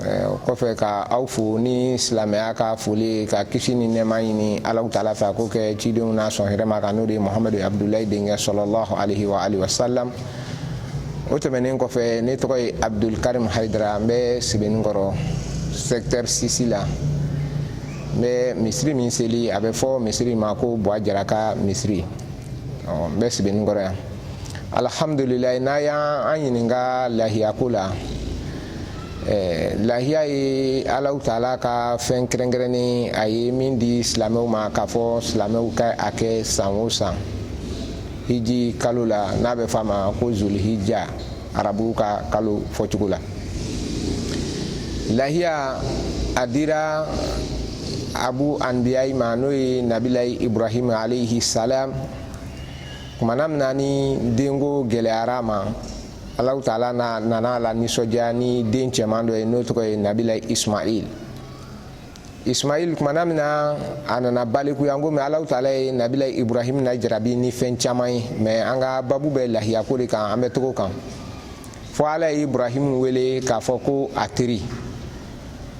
o kɔfɛ ka aw fo ni silamɛya ka foli ka kisi ni nɛɛma ɲini Alahu taala fɛ a k'o kɛ cidenw na sɔn hɛrɛma kan n'o de ye Muhamadu Abudulayi denkɛ sallallahu alayhi wa alihi wasalam o tɛmɛnen kɔfɛ ne tɔgɔ ye Abudul Karim Hayidara n bɛ Sebenikɔrɔ secteur 6 la n bɛ misiri min seli a bɛ fɔ misiri ma ko Buwa Jara ka misiri ɔ n bɛ Sebenikɔrɔ yan alhamdulilayi n'a y'an ɲininka lahiyako la Eh, lahiya ye alahu taala ka fɛn kɛrɛnkɛrɛnnen a ye min di silamɛw ma k'a fɔ silamɛw ka a kɛ san o san hiji kalo la n'a bɛ f'a ma ko zulhijja arabuw ka kalo fɔcogo la lahiya a dira abu anbiyayi ma n'o ye nabilayi ibrahim alayhi salam kumana min na ni denko gɛlɛyara a ma alahu taala nana a lanisɔndiya ni den cɛman dɔ ye n'o tɔgɔ ye nabilayi ismail ismail kumana min na a nana balikuya n komi alahu taala ye nabila ibrahim najarabi ni fɛn caman ye mɛ an ka babu bɛ lahiyako de kan an bɛ to o kan fo ala ye ibrahim wele k'a fɔ ko a teri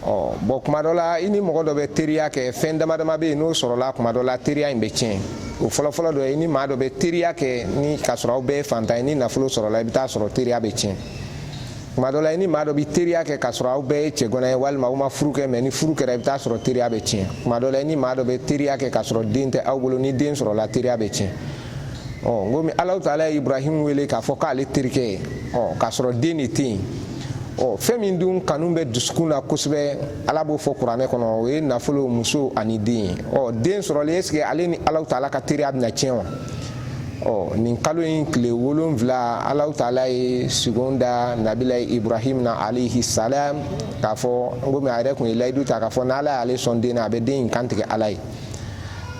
ɔ bɔn kuma dɔ la i ni mɔgɔ dɔ bɛ teriya kɛ fɛn dama dama bɛ yen n'o sɔrɔla kuma dɔ la teriya in bɛ tiɲɛ o fɔlɔfɔlɔ dɔ ye i ni maa dɔ bɛ teriya kɛ ni k'a sɔrɔ aw bɛɛ ye faantan ye ni nafolo sɔrɔla i bɛ taa sɔrɔ teriya bɛ tiɲɛ kuma dɔ la i ni maa dɔ bɛ teriya kɛ k'a sɔrɔ aw bɛɛ ye cɛganan ye walima aw ma furu kɛ mɛ ni furu kɛra i bɛ taa sɔrɔ teriya bɛ tiɲɛ kuma dɔ la i ni maa dɔ bɛ teriya kɛ k'a sɔrɔ den tɛ aw bolo ni den sɔrɔla teriya bɛ tiɲɛ ɔ n komi alahu taala ye ibrahim wele k'a fɔ k'ale terikɛ ye ɔ k'a sɔrɔ den de tɛ yen ɔ fɛn min dun kanu bɛ dusukun na kosɛbɛ ala b'o fɔ kuranɛ kɔnɔ o ye nafolo muso ani den ye ɔ den sɔrɔlen ɛseke ale ni alahu taala ka teriya bɛna tiɲɛ wa ɔ nin kalo in tile wolonfila alahu taala ye sugon da nabila ibrahim na alayhi salam k'a fɔ komi a yɛrɛ tun ye layidu ta k'a fɔ n'ala y'ale sɔn den na a bɛ den in kantigɛ ala ye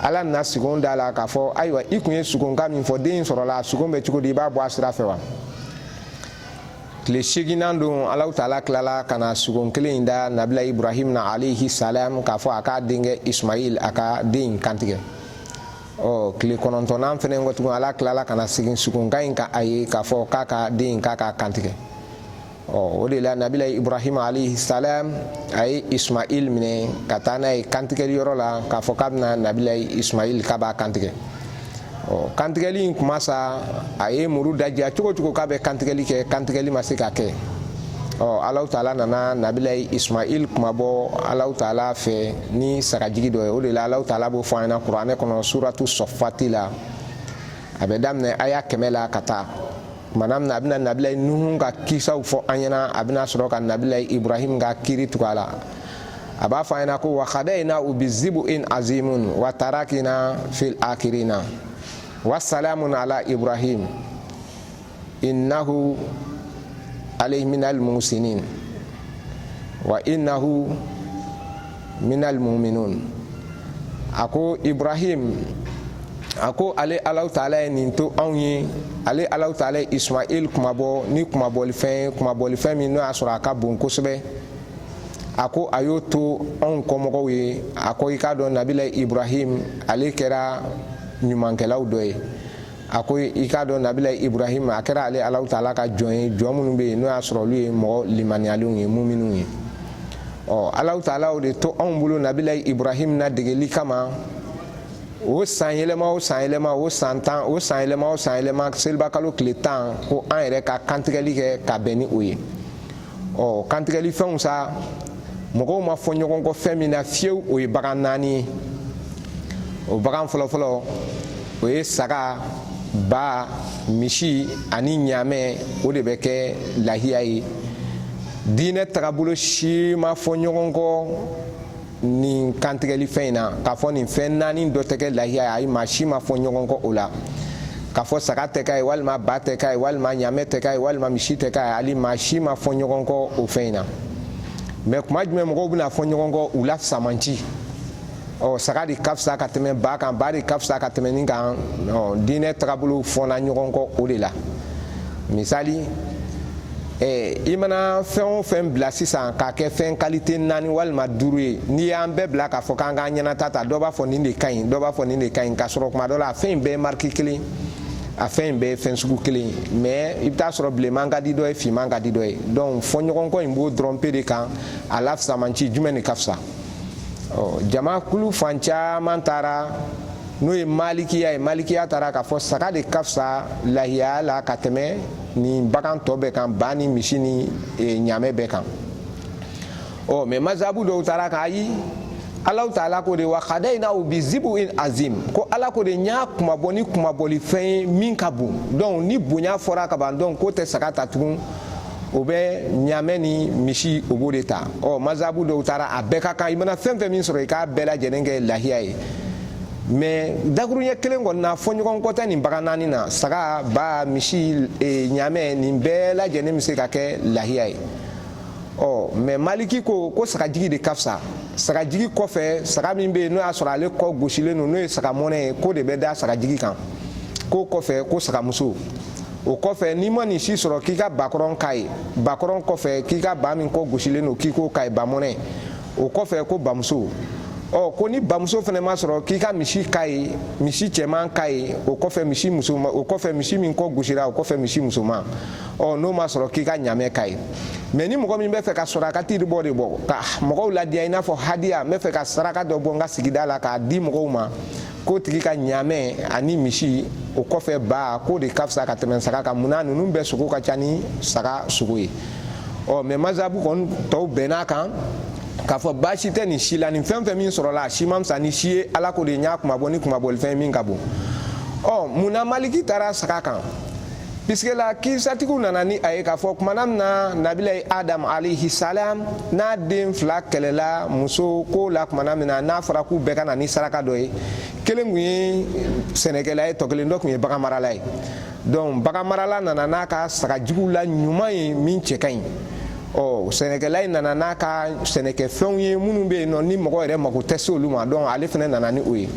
ala nana sugon da a la k'a fɔ ayiwa i tun ye sugonkan min fɔ den in sɔrɔla a sugon bɛ cogo di i b'a bɔ a sira fɛ wa tile seeginan don alahu taala tilala ka na sugon kelen in da nabila ibrahim na alayhi salam k'a fɔ a k'a denkɛ ismail a ka den in kantigɛ ɔ tile kɔnɔntɔnnan fɛnɛ kɔ tugun ala tilala ka na segin sugonkan in kan a ye k'a fɔ k'a ka den in k'a k'a kantigɛ ɔ o de la nabila ibrahima alayhi salam a ye ismail minɛ ka taa n'a ye kantigɛli yɔrɔ la k'a fɔ k'a bɛna nabila ismail k'a b'a kantigɛ ɔ kantigɛli in kuma sa a ye muru dadiya cogo o cogo k'a bɛ kantigɛli kɛ kantigɛli ma se ka kɛ ɔ alaw taala nana nabilayi ismail kunmabɔ alaw taala fɛ ni sagajigi dɔ ye o de la alaw taala b'o fɔ an ɲɛna kuranɛ kɔnɔ suratu sɔfati la a bɛ daminɛ aya kɛmɛ la ka taa kumana min na a bɛna nabilayi nuhu ka kisaw fɔ an ɲɛna a bɛna sɔrɔ ka nabilayi ibrahim ka kiri tugu a la a b'a fɔ an ɲɛna ko wa khadayina u bi zibu in azimun wa tarakina fil akirina wa salamun ala ibrahim innahu alayhi minal musinin wa innahu minal muminun a ko ibrahim a ko ale alaw taala ye nin to anw ye ale alaw taala ye ismail kunmabɔ ni kunmabɔlifɛn ye kunmabɔlifɛn min n'o y'a sɔrɔ a ka bon kosɛbɛ a ko a y'o to anw kɔmɔgɔw ye a ko i k'a dɔn nabilayi ibrahim ale kɛra ɲumankɛlaw dɔ ye a ko i k'a dɔn nabilayi ibrahim a kɛra ale alaw taala ka jɔn ye jɔn minnu bɛ yen n'o y'a sɔrɔ olu ye mɔgɔ limaniyalenw ye muminunw ye ɔ alaw taala o de to anw bolo nabilayi ibrahim nadegeli kama o san yɛlɛma o san yɛlɛma o san tan o san yɛlɛma o san yɛlɛma selibakalo tile tan ko an yɛrɛ ka kantigɛli kɛ ka bɛn ni o ye ɔ kantigɛli fɛnw sa mɔgɔw ma fɔ ɲɔgɔn kɔ fɛn min na fiyewu o ye bagan naani ye o bagan fɔlɔfɔlɔ o ye saga ba misi ani ɲaamɛ o de bɛ kɛ lahiya ye diinɛ tagabolo si ma fɔ ɲɔgɔn kɔ nin kantigɛli fɛn in na k'a fɔ nin fɛn naani dɔ tɛ kɛ lahiya ye ayi maa si ma fɔ ɲɔgɔn kɔ o la k'a fɔ saga tɛ k'a ye walima ba tɛ k'a ye walima ɲaamɛ tɛ k'a ye walima misi tɛ k'a ye hali maa si ma fɔ ɲɔgɔn kɔ o fɛn in na mɛ kuma jumɛn mɔgɔw bɛna fɔ ɲɔgɔn kɔ u la fisamanci ɔ saga de ka fisa ka tɛmɛ ba kan ba de ka fisa ka tɛmɛ nin kan diinɛ tagabolo fɔna ɲɔgɔn kɔ o de la misali Eh, i mana fɛn o fɛn bila sisan k'a kɛ fɛn kalite naani walima duuru ye n'i y'an bɛɛ bila k'a fɔ k'an k'an ɲɛnata ta dɔ b'a fɔ nin de ka ɲi dɔ b'a fɔ nin de ka ɲi k'a sɔrɔ kuma dɔ la a fɛn in bɛɛ ye mariki kelen a fɛn in bɛɛ ye fɛn sugu kelen ye mɛ i bɛ t'a sɔrɔ bilenman ka di dɔ ye finman ka di dɔ ye donc fɔɲɔgɔnkɔ in b'o dɔrɔn pe de kan a la fisamanci jumɛn de ka fisa ɔ jama kulu fan caman taara n'o ye malikiya ye malikiya taara k'a fɔ saga de ka fisa lahiya la ka tɛmɛ ni bagan tɔ bɛɛ kan ba ni misi ni e, ɲaamɛ bɛɛ kan ɔ mɛ mazabu dɔw taara k'ayi alaw taala ko de wa kadayinaw bi zibu in azim ko ala ko de n y'a kunmabɔ ni kunmabɔlifɛn ye min ka bon donc ni bonya fɔra ka ban donc k'o tɛ saga ta tugun o bɛ ɲaamɛ ni misi o b'o de ta ɔ mazabu dɔw taara a bɛɛ ka kan i mana fɛn fɛn min sɔrɔ i k'a bɛɛ lajɛlen kɛ lahiya ye mɛ dakuruɲɛ kelen kɔni na fɔɲɔgɔnkɔ tɛ nin bagan naani na saga ba misi e, ɲamɛ nin bɛɛ lajɛlen bɛ se ka kɛ lahiya ye ɔ mɛ maliki ko ko sagajigi de ka fisa sagajigi kɔfɛ saga min bɛ yen n'o y'a sɔrɔ ale kɔ gosilen don n'o ye saga mɔnɛ ye k'o de bɛ da sagajigi kan k'o kɔfɛ ko sagamuso o kɔfɛ n'i ma nin si sɔrɔ k'i ka bakɔrɔn k'a ye bakɔrɔn kɔfɛ k'i ka ba min kɔ gosilen don k'i k'o k'a ye bamɔnɛ o kɔfɛ ko bamuso ɔ ko ni bamuso fana ma sɔrɔ k'i ka misi k'a ye misi cɛman k'a ye o kɔfɛ misi musoman o kɔfɛ misi min kɔ gosira o kɔfɛ misi musoman ɔ n'o ma sɔrɔ k'i ka ɲamɛ k'a ye mɛ ni mɔgɔ min bɛ fɛ ka sarakati bɔ de bɔ ka mɔgɔw ladiya i n'a fɔ hadiya n bɛ fɛ ka saraka dɔ bɔ n ka sigida la k'a di mɔgɔw ma k'o tigi ka ɲamɛ ani misi o kɔfɛ ba k'o de ka fisa ka tɛmɛ saga kan mun na ninnu bɛɛ sogo ka ca ni saga sogo ye ɔ mɛ mazabu kɔni tɔw bɛnn'a kan k'a fɔ baasi tɛ nin si la nin fɛn fɛn min sɔrɔla a si ma fisa ni si ye ala ko de y'a kunmabɔ ni kunmabɔlifɛn ye min ka bon ɔ mun na maliki taara saga kan piske la kirisatigiw nana ni a ye k'a fɔ kumana min na nabilayi adamu alayhi salam n'a den fila kɛlɛla muso ko la kumana min na n'a fɔra k'u bɛɛ ka na ni saraka dɔ ye kelen kun ye sɛnɛkɛla ye tɔ kelen dɔ kun ye baganmarala ye donc baganmarala nana n'a ka sagajigiw la ɲuman ye min cɛ ka ɲi ɔ sɛnɛkɛla in nana n'a ka sɛnɛkɛfɛnw ye minnu bɛ yen nɔ ni mɔgɔ yɛrɛ mako tɛ se olu ma donc ale fana nana ni o ye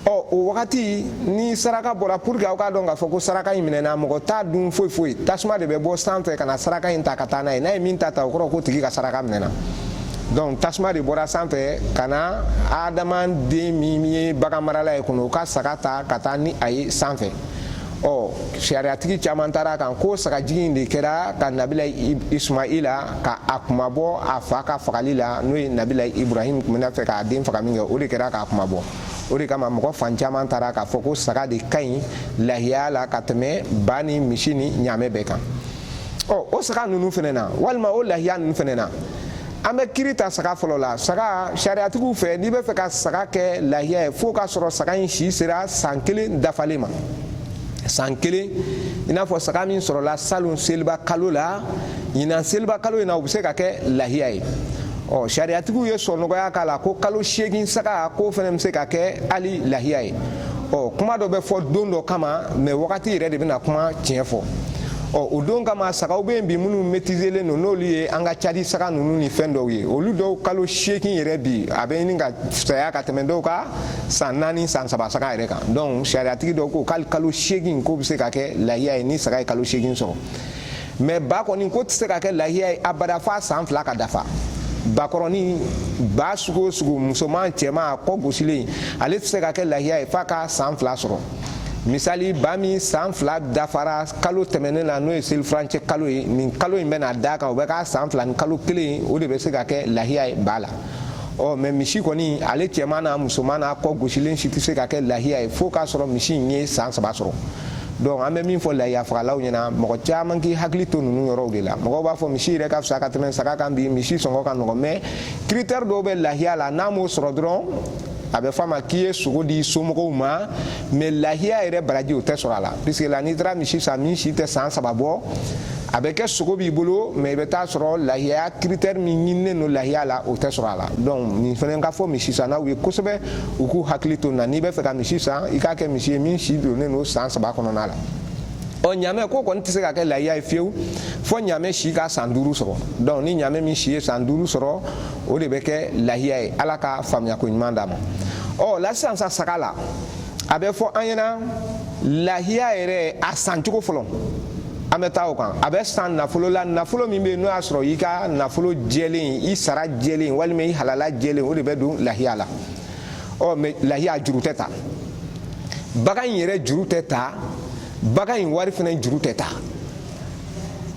ɔ o wagati ni saraka bɔra pour que aw k'a dɔn k'a fɔ ko saraka in minɛna mɔgɔ t'a dun foyi foyi tasuma de bɛ bɔ san fɛ ka na saraka in ta ka taa n'a ye n'a ye min ta ta o kɔrɔ k'o tigi ka saraka minɛna donc tasuma de bɔra san fɛ ka na adama den min ye baganmarala ye ka na o ka saga ta ka taa ni a ye san fɛ ɔ sariyatigi caman taara a kan ko sagajigi in de kɛra ka nabilayi ismaila ka a kunmabɔ a fa ka fagali la n'o ye nabilayi ibrahim tun bɛna fɛ k'a den faga min kɛ o de kɛra k'a kunmabɔ o de kama mɔgɔ fan caman taara k'a fɔ ko saga de ka ɲi lahiya la ka tɛmɛ ba ni misi ni ɲamɛ bɛɛ kan ɔ o saga ninnu fɛnɛ na walima o lahiya ninnu fɛnɛ na an bɛ kiri ta saga fɔlɔ la saga sariyatigiw fɛ n'i bɛ fɛ ka saga kɛ lahiya ye f'o k'a sɔrɔ saga in si sera san kelen dafalen ma san kelen i n'a fɔ saga min sɔrɔla salon seliba kalo la ɲinan seliba kalo in na o bɛ se ka kɛ lahiya ye ɔ sariyatigiw ye sɔnɔgɔya k'a la ko kalo seegin saga k'o fana bɛ se ka kɛ hali lahiya ye ɔ kuma dɔ bɛ fɔ don dɔ kama mɛ wagati yɛrɛ de bɛna kuma tiɲɛ fɔ ɔ o don kama sagaw bɛ yen bi minnu mɛtizelen don n'olu ye an ka cadi saga ninnu ni fɛn dɔw ye olu dɔw kalo seegin yɛrɛ bi a bɛ ɲini ka fisaya ka tɛmɛ dɔw ka san naani san saba saga yɛrɛ kan donc sariyatigi dɔw ko k'ale kalo seegin k'o bɛ se ka kɛ lahiya ye ni saga ye kalo seegin sɔrɔ mɛ ba kɔni ko tɛ se ka kɛ lahiya ye abada f'a san fila ka dafa bakɔrɔni ba sugu o sugu musoman cɛman a kɔ gosilen ale tɛ se ka kɛ lahiya ye f'a ka san fila sɔrɔ misali ba min san fila dafara kalo tɛmɛnen na n'o ye selifurancɛ kalo ye nin kalo in bɛna d'a kan o bɛ k'a san fila ni kalo kelen ye o de bɛ se ka kɛ lahiya ye ba la ɔ mɛ misi kɔni ale cɛman n'a musoman n'a kɔ gosilen si tɛ se ka kɛ lahiya ye fo k'a sɔrɔ misi in ye san saba sɔrɔ donc an bɛ min fɔ lahiya fagalaw ɲɛna mɔgɔ caman k'i hakili to ninnu yɔrɔw de la mɔgɔw b'a fɔ misi yɛrɛ ka fisa ka tɛmɛ saga kan bi misi sɔngɔ ka nɔgɔn mɛ critère dɔw bɛ lahiya la n'a m'o sɔrɔ dɔrɔn a bɛ f'a ma k'i ye sogo di somɔgɔw ma mɛ lahiya yɛrɛ baraji o tɛ sɔrɔ a la puisque la n'i taara misi san min si tɛ san saba bɔ a bɛ kɛ sogo b'i bolo mɛ i bɛ taa sɔrɔ lahiya critère min ɲininen don lahiya la o tɛ sɔrɔ a la donc nin fana ka fɔ misi sannaw ye kosɛbɛ u k'u hakili to nin na n'i bɛ fɛ ka misi san i k'a kɛ misi ye min si donnen don san saba kɔnɔna la ɔ ɲaamɛ ko kɔni tɛ se ka kɛ lahiya ye fiyewu fo ɲaamɛ si ka san duuru sɔrɔ donc ni ɲaamɛ min si ye san duuru sɔrɔ o de bɛ kɛ lahiya ye ala ka faamuyako ɲuman d'an ma ɔ la sisan sa saga la a bɛ fɔ an ɲɛna lahiya yɛrɛ a san cogo fɔlɔ an bɛ taa o kan a bɛ san nafolo la nafolo min bɛ yen n'o y'a sɔrɔ i ka nafolo jɛlen i sara jɛlen walima i halala jɛlen o de bɛ don lahiya la ɔ mɛ lahiya juru tɛ ta bagan in yɛrɛ juru tɛ ta bagan in wari fana juru tɛ ta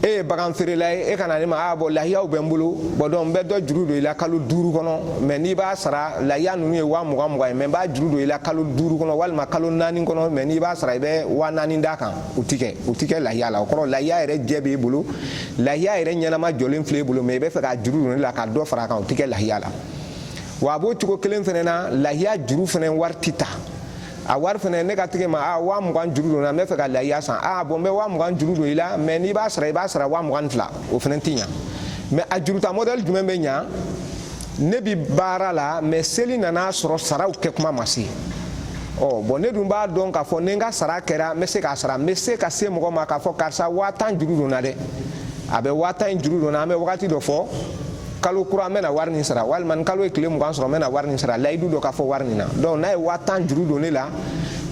e ye bagan feerela ye e ka na ne ma a bɔn lahiyaw bɛ n bolo bɔn donc n bɛ dɔ juru don i la kalo duuru kɔnɔ mɛ n'i b'a sara lahiya ninnu ye waa mugan mugan ye mɛ n b'a juru don i la kalo duuru kɔnɔ walima kalo naani kɔnɔ mɛ n'i b'a sara i bɛ waa naani d'a kan o ti kɛ o ti kɛ lahiya la o kɔrɔ lahiya yɛrɛ jɛ b'e bolo lahiya yɛrɛ ɲɛnama jɔlen filɛ e bolo mɛ i bɛ fɛ k'a juru don ne la ka dɔ fara a kan o ti kɛ lahiya la wa a b'o cogo kelen fana na lahiya juru fana wari ti ta a wari fana ne ka tag'e ma a waa mugan juru don n na n bɛ fɛ ka lahiya san a bɔn n bɛ waa mugan juru don i la mɛ n'i b'a sara i b'a sara waa mugan ni fila o fana ti ɲa mɛ a juruta mɔdɛli jumɛn bɛ ɲa ne bi baara la mɛ seli nana sɔrɔ saraw kɛ kuma ma se ɔ bɔn ne dun b'a dɔn k'a fɔ ni n ka sara kɛra n bɛ se k'a sara n bɛ se ka se mɔgɔ ma k'a fɔ karisa waa tan juru don n na dɛ a bɛ waa tan in juru don n na an bɛ wagati dɔ fɔ kalo kura n bɛna wari nin sara walima ni kalo ye tile mugan sɔrɔ n bɛna wari nin sara layidu dɔ ka fɔ wari nin na donc n'a ye waa tan juru don ne la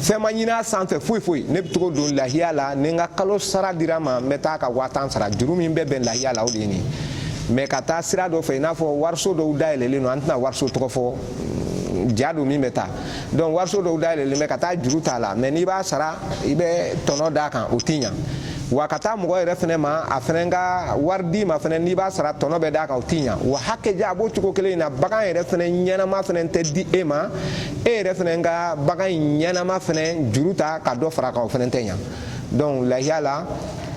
fɛn ma ɲin'a sanfɛ foyi foyi ne bɛ tag'o don lahiya la ni n ka kalo sara dira n ma n bɛ taa ka waa tan sara juru min bɛ bɛn lahiya la o de ye nin mɛ ka taa sira dɔ fɛ i n'a fɔ wariso dɔw dayɛlɛlen don an tɛna wariso tɔgɔ fɔ ja don min bɛ taa donc wariso dɔw dayɛlɛlen bɛ ka taa juru t'a la mɛ n'i b'a sara i bɛ tɔnɔ d'a kan o tɛ ɲa wa ka taa mɔgɔ yɛrɛ fɛnɛ ma a fɛnɛ ka wari d'i ma fɛnɛ n'i b'a sara tɔnɔ bɛ d'a kan o tɛ ɲa wa hakɛja a b'o cogo kelen in na bagan yɛrɛ fɛnɛ ɲɛnama fɛnɛ tɛ di e ma e yɛrɛ fɛnɛ ka bagan ɲɛnama fɛnɛ juru ta ka dɔ fara a kan o fɛnɛ tɛ ɲa donc lahiya la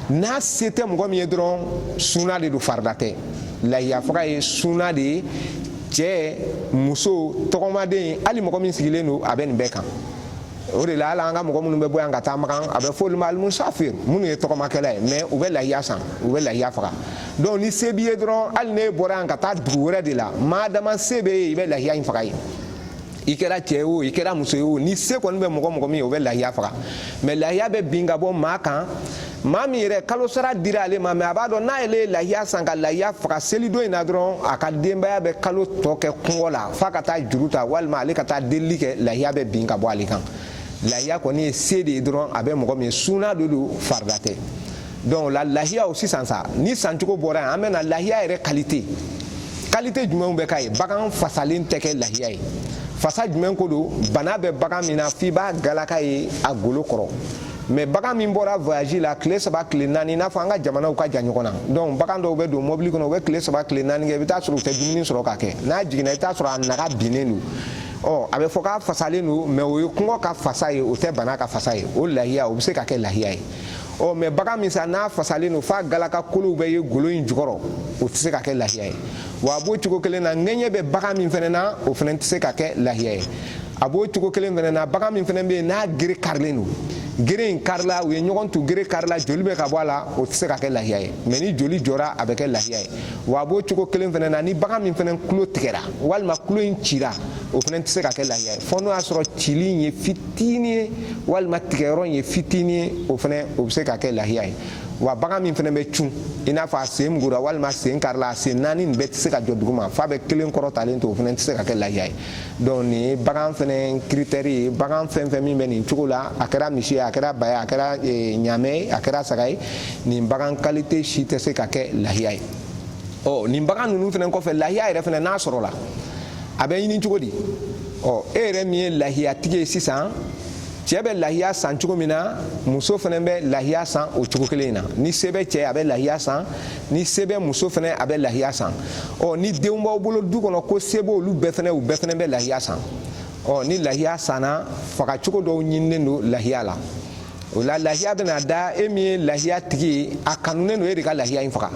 n'a se tɛ mɔgɔ min ye dɔrɔn suna de don farida tɛ lahiya faga ye suna de ye cɛɛ muso tɔgɔmaden hali mɔgɔ min sigilen don a bɛ nin bɛɛ kan o de la hali an ka mɔgɔ minnu bɛ bɔ yan ka taa makan a bɛ fɔ olu ma alimusafir minnu ye tɔgɔmakɛla ye mɛ u bɛ lahiya san u bɛ lahiya faga donc ni se b'i ye dɔrɔn hali n'e bɔra yan ka taa dugu wɛrɛ de la maa dama se b'e ye i bɛ lahiya in faga ye i kɛra cɛ ye o i kɛra muso ye o ni se kɔni bɛ mɔgɔ mɔgɔ min ye o bɛ lahiya faga mɛ lahiya bɛ bin ka bɔ maa kan maa min yɛrɛ kalo sara dira ale ma mɛ a b'a dɔn n'ale ye lahiya san ka lahiya faga selidon in na dɔrɔn a ka denbaya bɛ kalo tɔ kɛ kɔngɔ la f'a ka taa juru ta walima ale ka taa delili kɛ lahiya bɛ bin ka bɔ ale kan lahiya kɔni ye se de ye dɔrɔn a bɛ mɔgɔ min ye suna de don farida tɛ donc la lahiya o sisan sa ni sancogo bɔra yan an bɛ na lahiya yɛrɛ kalite kalite jumɛnw bɛ k'a ye bagan fasalen tɛ kɛ lahiya ye fasa jumɛn ko don bana bɛ bagan min na f'i b'a galaka ye a golo kɔrɔ mɛ bagan min bɔra voyage la tile saba tile naani i n'a fɔ an ka jamanaw ka jan ɲɔgɔn na donc bagan dɔw bɛ don mɔbili kɔnɔ u bɛ tile saba tile naani kɛ i bɛ taa sɔrɔ u tɛ dumuni sɔrɔ k'a kɛ n'a jiginna i bɛ taa sɔrɔ a naga binnen don ɔ a bɛ fɔ k'a fasalen don mɛ o ye kɔngɔ ka fasa ye o tɛ bana ka fasa ye o lahiya o bɛ se ka kɛ lahiya ye ɔ mɛ bagan min sa n'a fasalen don f'a galaka kolow bɛ ye golo in jukɔrɔ o tɛ se ka kɛ lahiya ye wa a b'o cogo kelen na ŋɛɲɛ bɛ bagan min fɛnɛ na o fɛnɛ tɛ se ka kɛ lahiya ye a b'o cogo kelen fɛnɛ na bagan min fɛnɛ bɛ yen n'a gere karilen don gere in karila u ye ɲɔgɔn tu gere karila joli bɛ ka bɔ a la o tɛ se ka kɛ lahiya ye mɛ ni joli jɔra a bɛ kɛ lahiya ye wa a b'o cogo kelen fɛnɛ na ni bagan min fɛnɛ tulo tigɛra walima tulo in cira o fɛnɛ tɛ se ka kɛ lahiya ye fɔ n'o y'a sɔrɔ cili in ye fit fitinin ye walima tigɛyɔrɔ in ye fitinin ye o fɛnɛ o bɛ se ka kɛ lahiya ye wa bagan min fɛnɛ bɛ cun i n'a fɔ a sen mugura walima a sen karila a sen naani nin bɛɛ tɛ se ka jɔ duguma f'a bɛ kelen kɔrɔtalen to o fɛnɛ tɛ se ka kɛ lahiya ye donc nin ye bagan fɛnɛ kiritɛri ye bagan fɛn fɛn min bɛ nin cogo la a kɛra misi ye a kɛra ba ye a kɛra eh, ɲaamɛ ye a kɛra saga ye nin bagan kalite si tɛ se ka kɛ lahiya ye ɔ nin bagan ninnu fɛnɛ kɔfɛ lahiya yɛrɛ fɛnɛ n'a sɔrɔla a bɛ ɲini cogo di ɔ e yɛrɛ min ye lahiyatigi ye sisan cɛɛ bɛ lahiya san cogo min na muso fɛnɛ bɛ lahiya san o cogo kelen in na ni se bɛ cɛɛ a bɛ lahiya san ni se bɛ muso fɛnɛ a bɛ lahiya san ɔ ni denw b'aw bolo du kɔnɔ ko se b'olu bɛɛ fɛnɛ u bɛɛ fɛnɛ bɛ lahiya san ɔ ni lahiya sanna fagacogo dɔw ɲininen don lahiya la o la lahiya bɛna da e min ye lahiyatigi ye a kanunen don e de ka lahiya in faga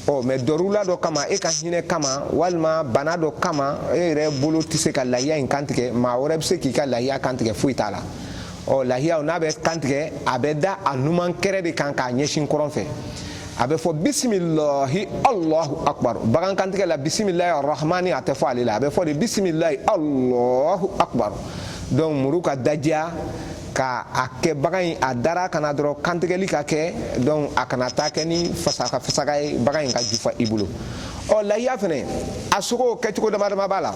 ɔ mais dɔrula dɔ kama e ka hinɛ kama walima bana dɔ kama e yɛrɛ bolo tɛ se ka lahiya in kantigɛ maa wɛrɛ bɛ se k'i ka lahiya kantigɛ foyi t'a la ɔ lahiyaw n'a bɛ kantigɛ a bɛ da a numan kɛrɛ de kan k'a ɲɛsin kɔrɔn fɛ a bɛ fɔ bisimilahi alahu akbar bagan kantigɛ la bisimilahi arahmani a tɛ fɔ ale la a bɛ fɔ de bisimilahi alahu akbar donc muru ka dajiya ka a kɛ bagan in a dara kan na dɔrɔn kantigɛli ka kɛ donc a kana taa kɛ ni fasaka fasaka ye bagan in ka jufa i bolo ɔ lahiya fɛnɛ a sogo kɛcogo dama dama b'a la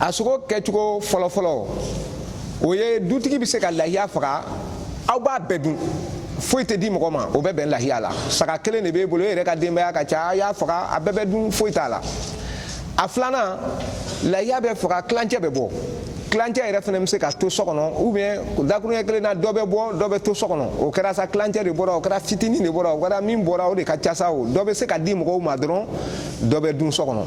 a sogo kɛcogo fɔlɔfɔlɔ o ye dutigi bɛ se ka lahiya faga aw b'a bɛɛ dun foyi tɛ di mɔgɔ ma o bɛ bɛn lahiya la saga kelen de b'e bolo e yɛrɛ ka denbaya ka ca a y'a faga a bɛɛ bɛ dun foyi t'a la a filanan lahiya bɛ faga kilancɛ bɛ bɔ kilancɛ yɛrɛ fɛnɛ bɛ se ka to so kɔnɔ ou bien dakuruɲɛ kelen na dɔ bɛ bɔ dɔ bɛ to so kɔnɔ o kɛra sa kilancɛ de bɔra o kɛra fitinin de bɔra o kɛra min bɔra o de ka ca sa o dɔ bɛ se ka di mɔgɔw ma dɔrɔn dɔ bɛ dun so kɔnɔ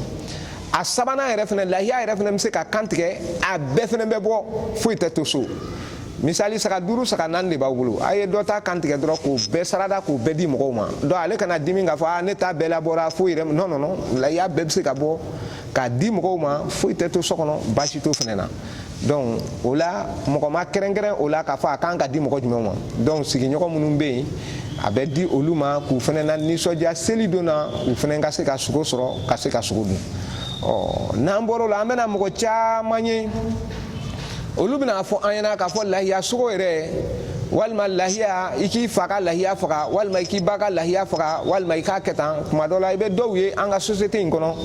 a sabanan yɛrɛ fɛnɛ lahiya yɛrɛ fɛnɛ bɛ se ka kantigɛ a bɛɛ fɛnɛ bɛ bɔ foyi tɛ to so misali saga duuru saga naani de b'aw bolo a ye dɔ ta kantigɛ dɔrɔn k'o bɛɛ sarada k'o bɛɛ di mɔgɔw ma donc ale kana dimi k'a fɔ a ne ta bɛɛ labɔra foyi yɛrɛ non non non lahiya bɛɛ bɛ se ka bɔ k'a di mɔgɔw ma foyi tɛ to so kɔnɔ baasi t'o fɛnɛ na donc o la mɔgɔ ma kɛrɛnkɛrɛn o la k'a fɔ a kan ka di mɔgɔ jumɛn ma donc sigiɲɔgɔn minnu bɛ yen a bɛ di olu ma k'u fɛnɛ na nisɔndiya seli don na u fɛnɛ ka se ka sogo sɔrɔ ka se ka sogo dun ɔ n'an bɔr'o la an bɛna mɔgɔ caman ye olu bɛna fɔ an ɲɛna k'a fɔ lahiya sogo yɛrɛ walima lahiya i k'i fa ka lahiya faga walima i k'i ba ka lahiya faga walima i k'a kɛ tan tuma dɔ la i bɛ dɔw ye an ka société in kɔnɔ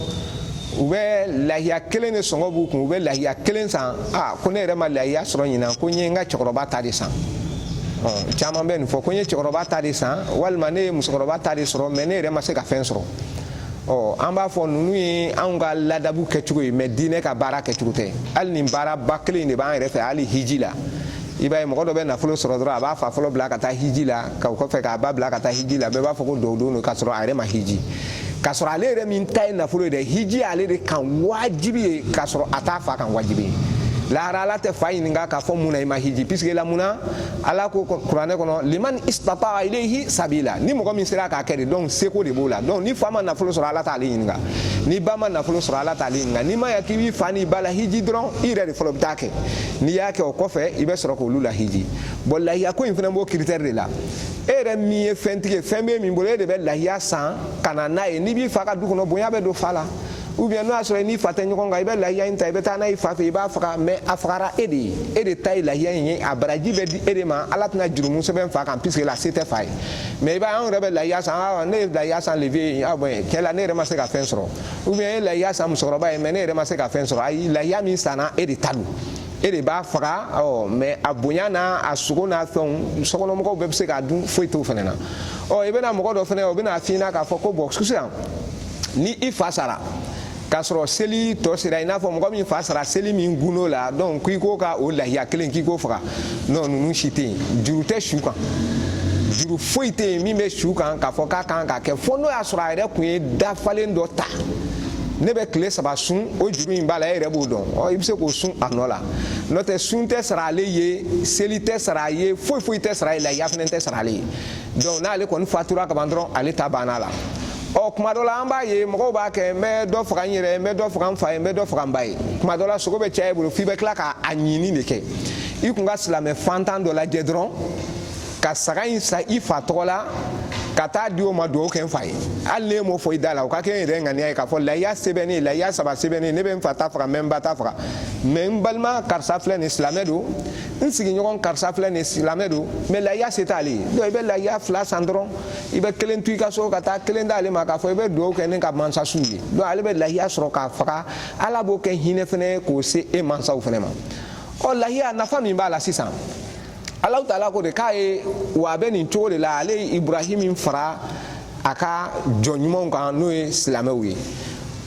u bɛ lahiya kelen de sɔngɔ b'u kun u bɛ lahiya kelen san a ko ne yɛrɛ ma lahiya sɔrɔ ɲinan ko n ye n ka cɛkɔrɔba ta de san caman bɛ nin fɔ ko n ye cɛkɔrɔba ta de san walima ne ye musokɔrɔba ta de sɔrɔ mais ne yɛrɛ ma se ka fɛn sɔrɔ ɔ an b'a fɔ ninnu ye anw ka ladabu kɛcogo ye mais diinɛ ka baara kɛcogo tɛ hali nin baaraba kelen de b'an yɛrɛ fɛ hali hiji la i b'a ye mɔgɔ dɔ bɛ nafolo sɔrɔ dɔrɔn a b'a fa fɔlɔ bila ka taa hiji la k'o kɔfɛ k'a ba bila ka taa hiji la bɛɛ b'a fɔ ko dɔw don k'a sɔrɔ a yɛrɛ ma hiji k'a sɔrɔ ale yɛrɛ min ta ye nafolo ye dɛ hiji y'ale de kan wajibi ye k'a sɔrɔ a t'a fa kan wajibi ye lahara ala tɛ fa ɲininka k'a fɔ mun na i ma hiji puisque la mun na ala ko kuranɛ kɔnɔ liman istata'a ilayhi sabila ni mɔgɔ min sera k'a kɛ de donc seko de b'o la donc ni fa ma nafolo sɔrɔ ala t'ale ɲininka ni ba ma nafolo sɔrɔ ala t'ale ɲininka n'i ma ya k'i b'i fa n'i ba lahiji dɔrɔn i yɛrɛ de fɔlɔ bɛ taa kɛ n'i y'a kɛ o kɔfɛ i bɛ sɔrɔ k'olu lahiji bon lahiya ko in fana b'o critère de la e yɛrɛ min ye fɛntigi ye fɛn bɛ min bolo e de bɛ lahiya san ka na n'a ye n'i b'i fa ka du kɔnɔ bonya bɛ don fa la ou bien n'o y'a sɔrɔ i n'i fa tɛ ɲɔgɔn kan i bɛ lahiya in ta i bɛ taa n'a ye fa fɛ i b'a faga mɛ a fagara e de ye e de ta ye lahiya in ye a baraji bɛ di e de ma ala tɛna jurumu sɛbɛn fa kan puisque la se tɛ fa ye mɛ i b'a ye anw yɛrɛ bɛ lahiya san awa ne ye lahiya san le vieux ye bɔn tiɲɛ la ne yɛrɛ ma se ka fɛn sɔrɔ ou bien e ye lahiya san musokɔrɔba ye mɛ ne yɛrɛ ma se ka fɛn sɔrɔ ayi lahiya min sanna e de ta don e de b'a faga ɔ mɛ a bonya n'a a sogo n'a fɛnw sokɔnɔmɔgɔw bɛɛ bɛ se k'a dun foyi t'o fɛnɛ na ɔ i bɛna mɔgɔ dɔ fɛnɛ o bɛna f'i ɲɛna k'a fɔ ko bɔn sisan ni i fa sara k'a sɔrɔ seli tɔ sera i n'a fɔ mɔgɔ min fa sara seli min gundo la donc k'i ko ka o lahiya kelen k'i k'o faga nɔn ninnu si tɛ yen juru tɛ su kan juru foyi tɛ yen min bɛ su kan k'a fɔ k'a kan ka kɛ fo n'o y'a sɔrɔ a yɛrɛ kun ye dafalen dɔ ta ne bɛ tile saba sun o juru in b'a la e yɛrɛ b'o dɔn ɔ i bɛ se k'o sun a nɔ la n'o tɛ sun tɛ sara ale ye seli tɛ sara a ye foyi foyi tɛ sara a ye lahiya fɛnɛ tɛ sara ale ye donc n'ale kɔni fatura ka ban dɔrɔn ale ta banna a la ɔ kuma dɔ la an b'a ye mɔgɔw b'a kɛ n bɛ dɔ faga n yɛrɛ n bɛ dɔ faga n fa ye n bɛ dɔ faga n ba ye kuma dɔ la sogo bɛ caya i bolo f'i bɛ tila k'a ɲini de kɛ i kun ka silamɛ fantan dɔ lajɛ dɔrɔn ka saga in san i fa tɔgɔ la ka taa di o ma dugawu kɛ n fa ye hali n'e m'o fɔ i da la o ka kɛ n yɛrɛ ŋaniya ye k'a fɔ layiya se bɛ ne ye layiya saba se bɛ ne ye ne bɛ n fa ta faga n bɛ n ba ta faga mɛ n balima karisa filɛ nin silamɛ don n sigiɲɔgɔn karisa filɛ nin silamɛ don mɛ layiya se t'ale ye donc i bɛ layiya fila san dɔrɔn i bɛ kelen to i ka so ka taa kelen d'ale ma k'a fɔ i bɛ dugawu kɛ ne ka mansasiw ye donc ale bɛ layiya sɔrɔ k'a faga ala b'o kɛ hinɛ fɛnɛ ye k'o se e mansaw fɛnɛ ma ɔ layiya nafa min b'a la sisan alahu taala ko de k'a ye wa a bɛ nin cogo de la ale ye ibrahim fara a ka jɔn ɲumanw kan n'o ye silamɛw ye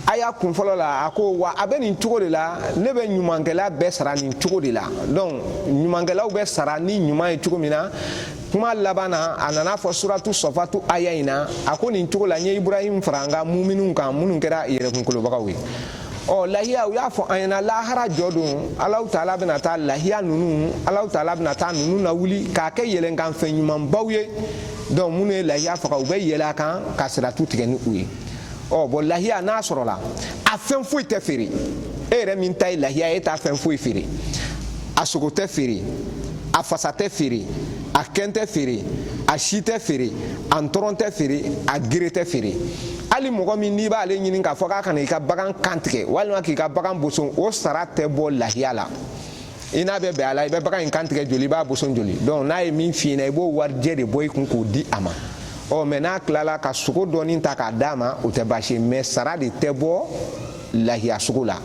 aya kun fɔlɔ la a ko wa a bɛ nin cogo de la ne bɛ ɲumankɛla bɛɛ sara nin cogo de la donc ɲumankɛlaw bɛ sara ni ɲuman ye cogo min na kuma laban na a nana a fɔ suratu sɔfatu aya in na a ko nin cogo la n ye ibrahim fara n ka mumininw kan minnu kɛra yɛrɛkunkolobagaw ye ɔ lahiya u y'a fɔ an ɲɛna lahara jɔ don alahu taala bɛna taa lahiya ninnu alahu taala bɛna taa ninnu lawuli k'a kɛ yɛlɛnkanfɛn ɲumanbaw ye donc minnu ye lahiya faga u bɛ yɛlɛ a kan ka siratu tigɛ ni u ye ɔ bɔn lahiya n'a sɔrɔla a fɛn foyi tɛ feere e yɛrɛ min ta ye lahiya ye e t'a fɛn foyi feere a sogo tɛ feere a fasa tɛ feere a kɛn tɛ feere a si tɛ feere a ntɔrɔn tɛ feere a gere tɛ feere hali mɔgɔ min n'i b'ale ɲini k'a fɔ k'a ka na i ka bagan kan tigɛ walima k'i ka bagan boson o sara tɛ bɔ lahiya la i n'a bɛ bɛn a la i bɛ bagan in kan tigɛ joli i b'a boson joli donc n'a ye min f'i ɲɛna i b'o warijɛ de bɔ i kun k'o di a ma ɔ mɛ n'a tilala ka sogo dɔɔni ta k'a d'a ma o tɛ baasi ye mɛ sara de tɛ bɔ lahiya sogo la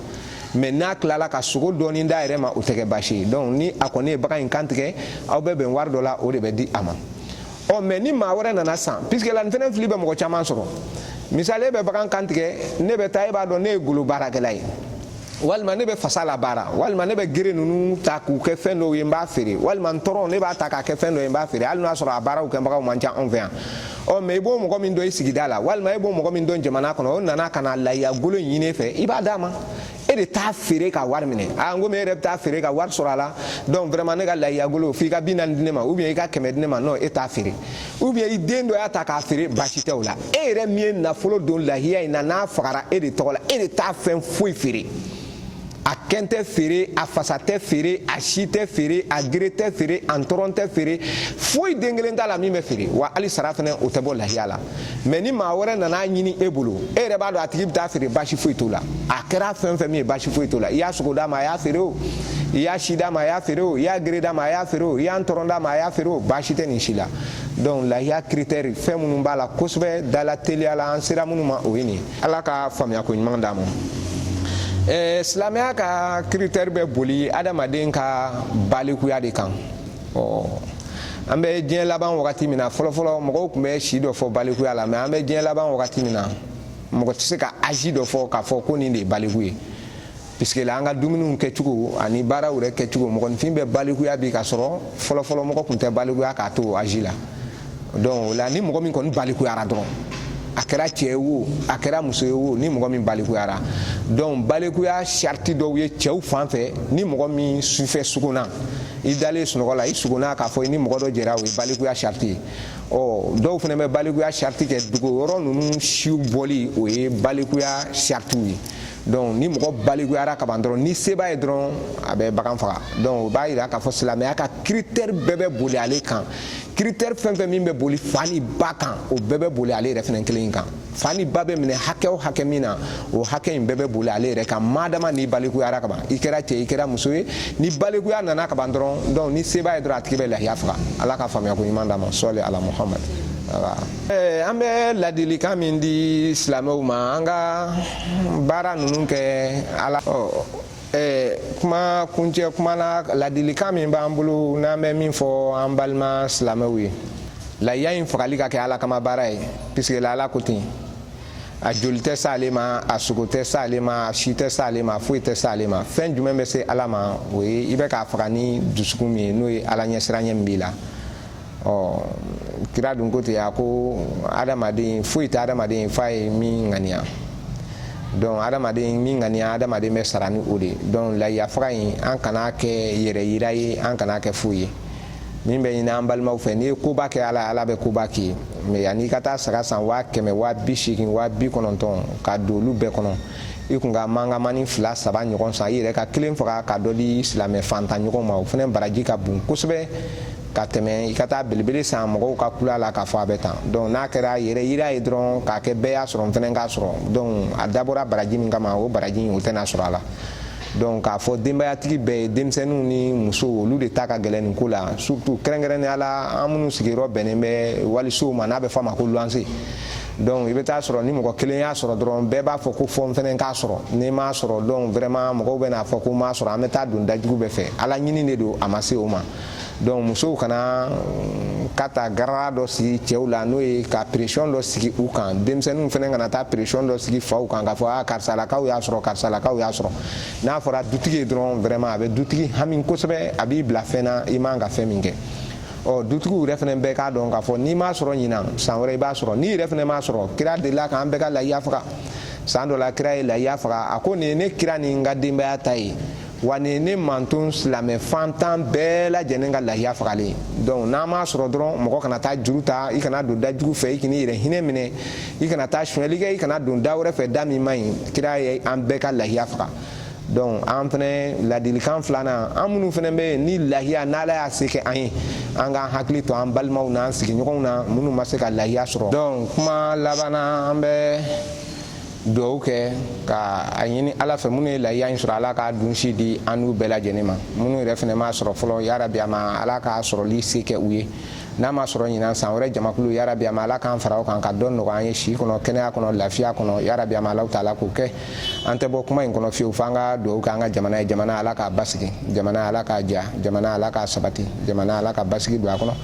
mɛ n'a tilala ka sogo dɔɔni d'a yɛrɛ ma o tɛ kɛ baasi ye donc ni a kɔni ye bagan in kan tigɛ aw bɛ bɛn wari dɔ la o de bɛ di a ma ɔ mɛ ni maa wɛrɛ nana san puisque la nin fɛnɛ fili bɛ mɔgɔ caman sɔrɔ misali e bɛ bagan kan tigɛ ne bɛ taa e b'a dɔn ne ye golo baarakɛla ye walima ne bɛ fasa la baara walima ne bɛ gere ninnu ta k'u kɛ fɛn dɔw ye n b'a feere walima ntɔrɔn ne b'a ta k'a kɛ fɛn dɔ ye n b'a feere hali n'a sɔrɔ a baaraw kɛbagaw man ca anw fɛ yan ɔ mɛ i b'o mɔgɔ min dɔn i sigida la walima i b'o mɔgɔ min dɔn jamana kɔnɔ o nana ka na layiya golo ɲini e fɛ i b'a d'a ma e de t'a feere ka wari minɛ a n komi e yɛrɛ bɛ taa feere ka wari sɔrɔ a la donc vraiment ne ka layiya golo f'i ka bi naani di ne ma ou bien i ka kɛmɛ di ne ma non e t'a feere ou bien i den dɔ y'a ta k'a feere baasi tɛ o la e yɛrɛ min ye nafolo don lahiya in na n'a fagara e de tɔgɔ la e de t'a fɛn foyi feere a kɛn tɛ feere a fasa tɛ feere a si tɛ feere a gere tɛ feere a ntɔrɔn tɛ feere foyi den kelen t'a la min bɛ feere wa hali sara fana o tɛ bɔ lahiya la mɛ ni maa wɛrɛ nana a ɲini e bolo e yɛrɛ b'a dɔn a tigi bɛ taa feere baasi foyi t'o la a kɛra fɛn fɛn min ye baasi foyi t'o la i y'a sogo d'a ma a y'a feere o i y'a si d'a ma a y'a feere o i y'a gere d'a ma a y'a feere o i y'a ntɔrɔn d'a ma a y'a feere o baasi tɛ nin si la donc lahiya kiritɛri fɛn minnu b'a la kosɛbɛ dala teliya la an sera minnu ma o ye nin ye ala ka faamuyako ɲuman d'an ma silamɛya ka kiritɛri bɛ boli adamaden ka balikuya de kan an bɛ diɲɛ laban wagati min na fɔlɔfɔlɔ mɔgɔw tun bɛ si dɔ fɔ balikuya la mɛ an bɛ diɲɛ laban wagati min na mɔgɔ tɛ se ka azi dɔ fɔ k'a fɔ ko nin de ye baliku ye puisque la an ka dumuniw kɛcogo ani baaraw yɛrɛ kɛcogo mɔgɔninfin bɛ balikuya bi ka sɔrɔ fɔlɔfɔlɔ mɔgɔ tun tɛ balikuya k'a to azi la donc o la ni mɔgɔ min kɔni balikuyara dɔrɔn a kɛra cɛ ye wo a kɛra muso ye wo ni mɔgɔ min balikuyara donc balikuya sariti dɔw ye cɛw fan fɛ ni mɔgɔ min sufɛ sugunna i dalen sunɔgɔ la i sugunna k'a fɔ i ni mɔgɔ dɔ jɛra o ye balikuya sariti ye ɔ dɔw fana bɛ balikuya sariti kɛ dogo yɔrɔ ninnu siw bɔli o ye balikuya saritiw ye donc ni mɔgɔ balikuyara ka ban dɔrɔn ni se b'a ye dɔrɔn a bɛ bagan faga donc o b'a yira k'a fɔ silamɛya ka critère bɛɛ bɛ boli ale kan kiritɛri fɛn fɛn min bɛ boli fa ni ba kan o bɛɛ bɛ boli ale yɛrɛ fɛnɛ kelen in kan fa ni ba bɛ minɛ hakɛ o hakɛ min na o hakɛ in bɛɛ bɛ boli ale yɛrɛ kan madama n'i balikuyara kaban i kɛra cɛ i kɛra muso ye ni balikuya nana kaban dɔrɔn donc ni se b'a ye dɔrɔn a tigi bɛ lahiya faga ala ka faamuya ko ɲuman d'an ma sɔli ala muhamad eh, an bɛ ladilikan min di silamɛw ma an ka baara ninnu kɛ ala Eh, kuma kuncɛ kuma na ladilikan min b'an bolo n'an bɛ min fɔ an balima silamɛw ye layiya in fagali ka kɛ ala kama baara ye puisque la ala ko ten a joli tɛ s'ale ma a sogo tɛ s'ale ma a si tɛ s'ale ma foyi tɛ s'ale ma fɛn jumɛn bɛ se ala ma o ye i bɛ k'a faga ni dusukun min ye n'o ye ala ɲɛsiranɲɛ min b'i la ɔ kira dun ko ten a ko adamaden foyi tɛ adamaden f'a ye min ŋaniya donc adamaden min ŋaniya adamaden bɛ sara ni o de ye donc layiya faga in an kan'a kɛ yɛrɛ yira ye an kan'a kɛ foyi ye min bɛ ɲini an balimaw fɛ n'i ye koba kɛ ala ala bɛ koba k'i ye mais yanni i ka taa saga san waa kɛmɛ waa bi seegin waa bi kɔnɔntɔn ka don olu bɛɛ kɔnɔ i kun ka mangamani fila saba ɲɔgɔn san i yɛrɛ ka kelen faga ka dɔ di silamɛ fantan ɲɔgɔn ma o fana baraji ka bon kosɛbɛ ka tɛmɛ i ka taa belebele san mɔgɔw ka kul'a la k'a fɔ a bɛ tan donc n'a kɛra yɛrɛ yira ye dɔrɔn k'a kɛ bɛɛ y'a sɔrɔ n fɛnɛ k'a sɔrɔ donc a dabɔra baraji min kama o baraji o tɛna sɔrɔ a la donc k'a fɔ denbayatigi bɛɛ ye denmisɛnninw ni musow olu de ta ka gɛlɛn nin ko la surtout kɛrɛnkɛrɛnnenya la an minnu sigiyɔrɔ bɛnnen bɛ walisow ma n'a bɛ fɔ a ma ko luwanse donc i bɛ taa sɔrɔ ni mɔgɔ kelen y'a sɔrɔ dɔrɔn bɛɛ b'a fɔ ko fo n fɛnɛ k'a sɔrɔ n'i m'a sɔrɔ donc vraiment mɔgɔw bɛn'a fɔ ko m'a sɔrɔ an bɛ taa don dajugu bɛɛ fɛ ala ɲini de don a ma se o ma donc musow kana mm, ka taa garara dɔ sigi cɛw la n'o ye ka pression dɔ sigi u kan denmisɛnninw fana kana taa pression dɔ sigi faw kan k'a fɔ a ah, karisalakaw y'a sɔrɔ karisalakaw y'a sɔrɔ n'a fɔra dutigi ye dɔrɔn vraiment a bɛ dutigi hami kosɛbɛ a b'i bila fɛn na i man ka fɛn min kɛ ɔ dutigiw yɛrɛ fana bɛɛ k'a dɔn k'a fɔ n'i m'a sɔrɔ ɲinan san wɛrɛ i b'a sɔrɔ n'i yɛrɛ fana m'a sɔrɔ kira delila k'an bɛɛ ka layiya faga san dɔ la kira ye layiya faga a ko nin ye ne kira ni n ka denbaya ta ye wa nin ye ne mantɔn silamɛ fantan bɛɛ lajɛlen ka lahiya fagalen ye donc n'an m'a sɔrɔ dɔrɔn mɔgɔ kana taa juru ta i kana don da jugu fɛ i k'i yɛrɛ hinɛ minɛ i kana taa sonyɛli kɛ i kana don da wɛrɛ fɛ da min man ɲi kira ye an bɛɛ ka lahiya faga donc an fɛnɛ ladilikan filanan an minnu fɛnɛ bɛ yen ni lahiya n'ala y'a se kɛ an ye an k'an hakili to an balimaw n'an sigiɲɔgɔnw na minnu ma se ka lahiya sɔrɔ donc kuma labanna an bɛ dugawu kɛ ka a ɲini ala fɛ minnu ye layiya in sɔrɔ ala k'a dunsi di an n'u bɛɛ lajɛlen ma minnu yɛrɛ fana m'a sɔrɔ fɔlɔ yarabi a ma ala k'a sɔrɔli se kɛ u ye n'a ma sɔrɔ ɲinan san wɛrɛ jamakulu yarabi a ma ala k'an fara o kan ka dɔ nɔgɔya an ye si kɔnɔ kɛnɛya kɔnɔ lafiya kɔnɔ yarabi a ma ala taala k'o kɛ an tɛ bɔ kuma in kɔnɔ fiyewu f'an ka dugawu kɛ an ka jamana ye jamana ala k'a basigi jamana ala k'a ja jamana ala k'a sabati jamana ala ka basigi don a kɔnɔ